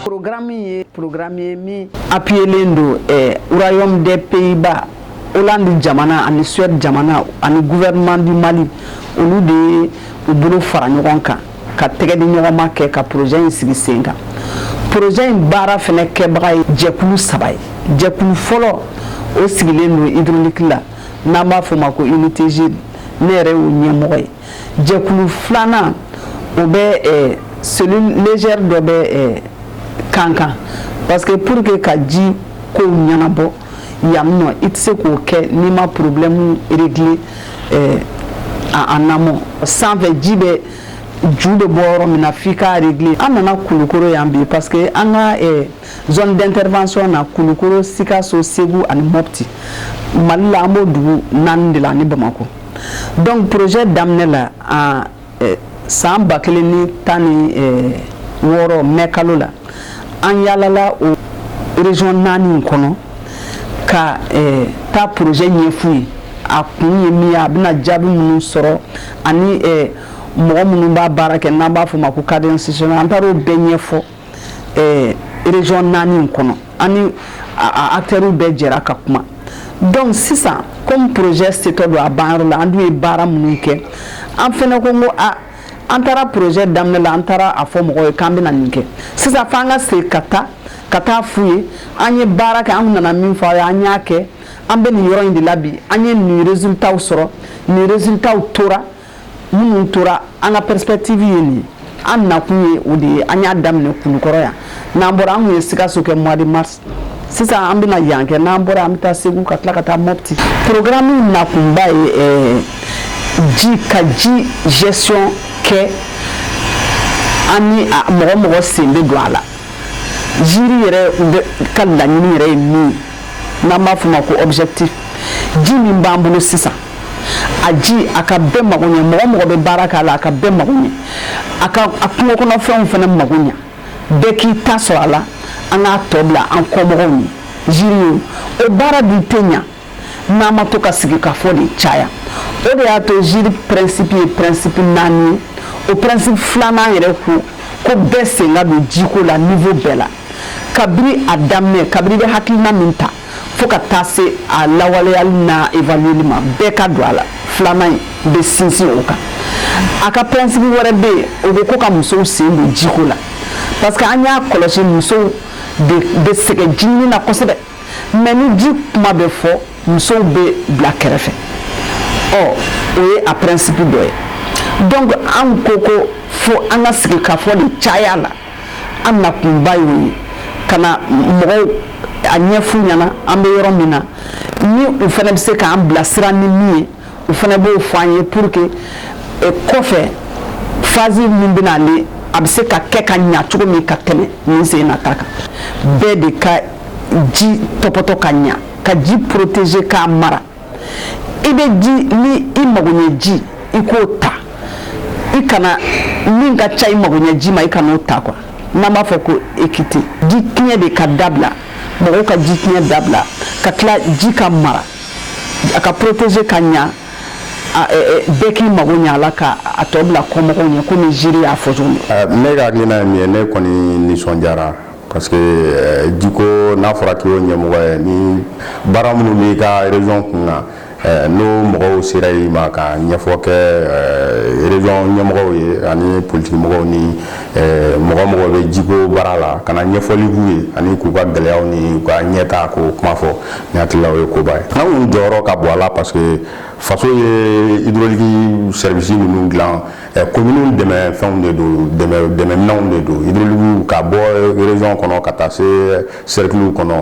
Porokarami ye porokarami ye min apiyelen don Royaume des Pays-Bas olandu jamana ani Suède jamana ani gouvernement du Mali olu de ye u bolo fara ɲɔgɔn kan ka tɛgɛ di ɲɔgɔnma kɛ ka poroze in sigi sen kan poroze in baara fana kɛbaga ye jɛkulu saba ye jɛkulu fɔlɔ o sigilen don hydraulique la n'an b'a f'o ma ko unité GIRE ne yɛrɛ y'o ɲɛmɔgɔ ye jɛkulu filanan o bɛ eh, cellule légère dɔ bɛ eh, Kankan parce que pour que ka ji kow ɲɛnabɔ yan nɔ i tɛ se k'o kɛ n'i ma problème régler eh, a en amont sanfɛ ji bɛ ju bɛ bɔ yɔrɔ min na f'i k'a régler an nana kulukoro yan bi parce que an ka eh, zone d'intervention na kulukoro sikaso segu ani mopti mali la an b'o dugu naani de la ani bamakɔ dɔnku poroze daminɛ la san ba kelen ni tan ni wɔɔrɔ mɛ kalo la an yalala o rezɔn naani kɔnɔ ka taa poroze ɲɛf'u ye a kun ye min a bɛna jaabi minnu sɔrɔ ani mɔgɔ minnu b'a baara kɛ n'an b'a f'o ma ko akitɛri an taara o bɛɛ ɲɛfɔ rezɔn naani kɔnɔ ani akitɛriw bɛɛ jɛra ka kuma dɔnku sisan kɔmi poroze setɔ don a ban yɔrɔ la an dun ye baara minnu kɛ an fana ko ko an taara poroze daminɛ la an taara a fɔ mɔgɔ ye k'an bɛna nin kɛ sisan fo an ka se ka taa ka taa f'u ye an ye baara kɛ an nana min fɔ yan an y'a kɛ an bɛ nin yɔrɔ in de la bi an ye nin rezilitaw sɔrɔ nin rezilitaw tora minnu tora an ka perspective ye nin ye an nakun ye o de ye an y'a daminɛ kulukɔrɔ yan n'an bɔra an kun ye sikaso kɛ mois de mars sisan an bɛna yan kɛ n'an bɔra an bɛ taa segu ka tila ka taa mopti programme nakunba ye eh, ji ka ji gestion kɛ ani mɔgɔ o mɔgɔ sen bɛ don a la GIRE yɛrɛ ka laɲini yɛrɛ ye min ye n'an b'a f'o ma ko objectif ji min b'an bolo sisan a ji a ka bɛɛ mago ɲɛ mɔgɔ o mɔgɔ bɛ baara k'a la a ka bɛɛ mago ɲɛ a ka a kungo kɔnɔfɛnw fana mago ɲɛ bɛɛ k'i ta sɔrɔ a la an k'a tɔ bila an kɔmɔgɔw ye GIRE ye o baara dun tɛ ɲa n'an ma to ka sigikafɔ de caya o de y'a to GIRE pɛrɛnsipi ye pɛrɛnsipi naani ye o pɛrɛnsipi filanan yɛrɛ ko ko bɛɛ sen ka don jiko la nivo bɛɛ la kabiri a daminɛ kabiri bɛ hakilina min ta fo ka taa se a lawaleyali n'a evalueli ma bɛɛ ka don a la filanan in bɛ sinsin o kan a ka pɛrɛnsipi wɛrɛ bɛ yen o bɛ ko ka musow sen don jiko la parce que an y'a kɔlɔsi musow de bɛ sɛgɛn jiɲini na kosɛbɛ mais ni ji kuma bɛ fɔ musow bɛ bila kɛrɛfɛ ɔ o ye a pɛrɛnsipi dɔ ye donc an ko ko fo an ka sigikafɔ de caya a la an nakunba y'o ye ka na mɔgɔw a ɲɛfɔ u ɲɛna an bɛ yɔrɔ min na ni u fana bɛ se k'an bilasira ni min ye u fana b'o fɔ an ye pour que eh, kɔfɛ fazi min bɛna ale a bɛ se ka kɛ ka ɲa cogo min ka tɛmɛ nin sen na ta kan bɛɛ de ka ji tɔpɔtɔ ka ɲa ka ji protéger k'a mara i bɛ ji ni i magoɲɛ ji i k'o ta i kana min ka ca i magoɲɛ ji ma i kan'o ta quoi n'an b'a fɔ ko équité ji tiɲɛ de ka dabila mɔgɔw ka ji tiɲɛ dabila ka tila ji ka mara a ka protéger ka ɲa bɛɛ k'i mago ɲa a la ka a tɔ bila kɔmɔgɔw ɲɛ komi GIRE y'a fɔ cogo min. ne ka hakilina ye min ye ne kɔni nisɔndiyara parce que euh, jiko n'a fɔra k'i y'o ɲɛmɔgɔ ye ni baara minnu b'i ka région kun na euh, n'o mɔgɔw sera i ma ka ɲɛfɔ kɛ euh, région ɲɛmɔgɔw ye ani politiki mɔgɔw ni mɔgɔ o mɔgɔ bɛ jiko baara la ka na ɲɛfɔli k'u ye ani k'u ka gɛlɛyaw ni u ka ɲɛtaa k'o kuma fɔ ne hakili la o ye koba ye anw jɔyɔrɔ ka bon a la parce que faso ye hydraulique service minnu dilan commune dɛmɛfɛnw de don dɛmɛminɛnw de don hydraulique ka bɔ région kɔnɔ ka taa se cercle kɔnɔ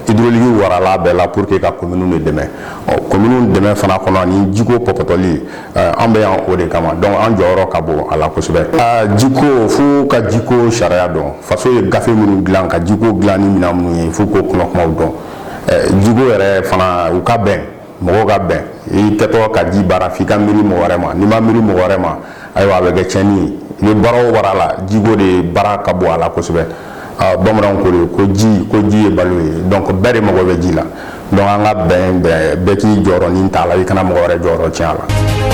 hydraulique warala bɛɛ la pour que ka commune de dɛmɛ ɔ commune dɛmɛ fana kɔnɔ ani jiko tɔpɔtɔli an bɛ yan o de kama donc an jɔyɔrɔ ka bon a la kosɛbɛ jiko fo ka jiko sariya dɔn faso ye gafe minnu dilan ka jiko dilan ni minnu ye fo k'o kɔnɔkumaw dɔn jiko yɛrɛ fana u ka bɛn mɔgɔw ka bɛn i kɛtɔ ka ji baara f'i ka miiri mɔgɔ wɛrɛ ma n'i ma miiri mɔgɔ wɛrɛ ma ayiwa a bɛ kɛ cɛnni ye i bɛ baara o baara la jiko de baara ka bon a la kosɛbɛ bamananw ko de ko ji ko ji ye balo ye donc bɛɛ de mago bɛ ji la donc an ka bɛn bɛɛ bɛɛ k'i jɔyɔrɔ nin ta a la i kana mɔgɔ wɛrɛ jɔyɔrɔ tiɲɛ a la